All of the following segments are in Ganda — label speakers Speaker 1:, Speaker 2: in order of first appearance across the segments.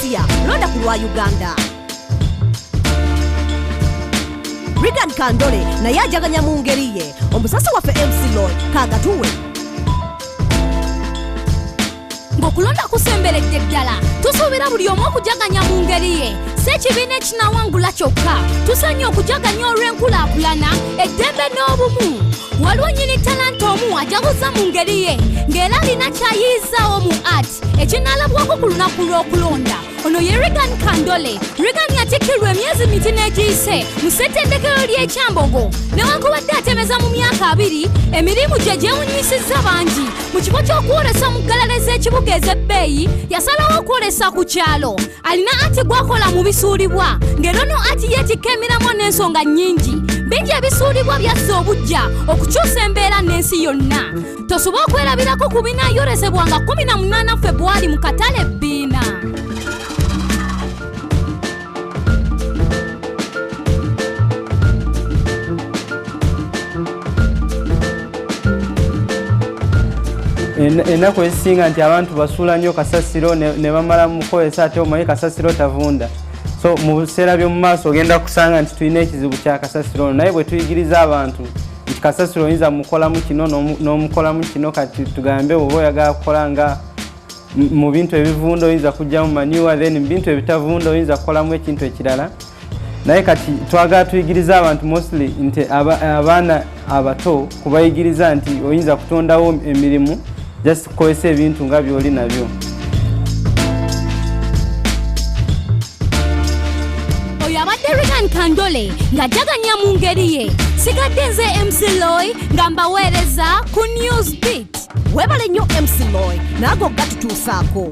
Speaker 1: next year londa ku lwa uganda rigan kandole naye ajaganya mu ngeri ye omusasi waffe mc lord kagatuwe
Speaker 2: ng'okulonda kusemberedde ddala tusuubira buli omu okujaganya mu ngeri ye si ekibiina ekinawangula kyokka tusanye okujaganya olw'enkulaakulana eddembe n'obumu waliwo nyini talanta omu ajaguza mu ngeri ye ng'era alina kyayiyizzaawo mu art ekinaalabwako ku lunaku lw'okulonda ono ye regan kandole regan yatikirwa emyezi miti n'egiyise mu ssettendekero ly'ekyambogo newankubadde atemeza mu myaka abiri emirimu gye gyewunyisizza bangi mu kifo ky'okwolesa mu ggalale z'ekibuga ez'ebbeeyi yasalawo okwolesa ku kyalo alina ati gwakola mu bisuulibwa ng'era ono ati yeetikka emiramwa n'ensonga nnyingi bingi ebisuulibwa byassa obujja okukyusa embeera n'ensi yonna tosobola okwerabirako ku binaayolesebwa nga 18 febwali mu katale ebbiina
Speaker 3: ennaku ezisinga nti abantu basuula nnyo kasasiro ne bamala mukukozesa ate omanyi kasasiro tavunda so mu biseera by'omu maaso ogenda kusanga nti tulina ekizibu kya kasasiro ono naye bwe tuyigiriza abantu nti kasasiro oyinza mukolamu kino n'omukolamu kino kati tugambe oba oyagala kukola nga mu bintu ebivunda oyinza kujjamu maniwa then mu bintu ebitavunda oyinza kukolamu ekintu ekirala naye kati twagala tuyigiriza abantu mostly nti abaana abato kubayigiriza nti oyinza kutondawo emirimu just Kozesa ebintu nga by'oli nabyo.
Speaker 2: Oyo abadde Regan Kandole ng'ajaganya mu ngeri ye. Sigadde nze MC Loy nga mbaweereza ku News Beat. Webale nnyo
Speaker 1: MC Loy naago gatutuusaako.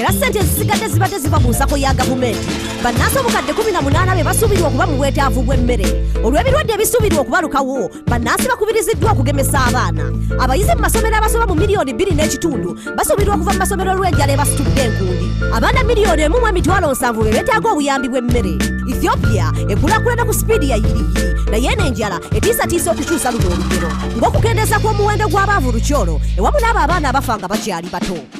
Speaker 1: era ssente ezisigadde zibadde ziva mu nsako ya gavumenti bannansi obukadde 18 be basuubirwa okuba mu bwetaavu bw'emmere olw'ebirwadde ebisuubirwa okubalukawo bannansi bakubiriziddwa okugemesa abaana abayizi mu masomero abasoma mu miliyoni 2 n'ekitundu basuubirwa okuva mu masomero olw'enjala ebasitudde enkundi abaana miliyoni emu mu emitwalo nsanvu be beetaaga obuyambi bw'emmere ethiopia ekulakulana ku sipiidi ya yiriyiri naye eno enjala etiisatiisa okukyusa luno olugero ng'okukendeeza kw'omuwendo gw'abaavu lukyolo ewamu n'abo abaana abafa nga bakyali bato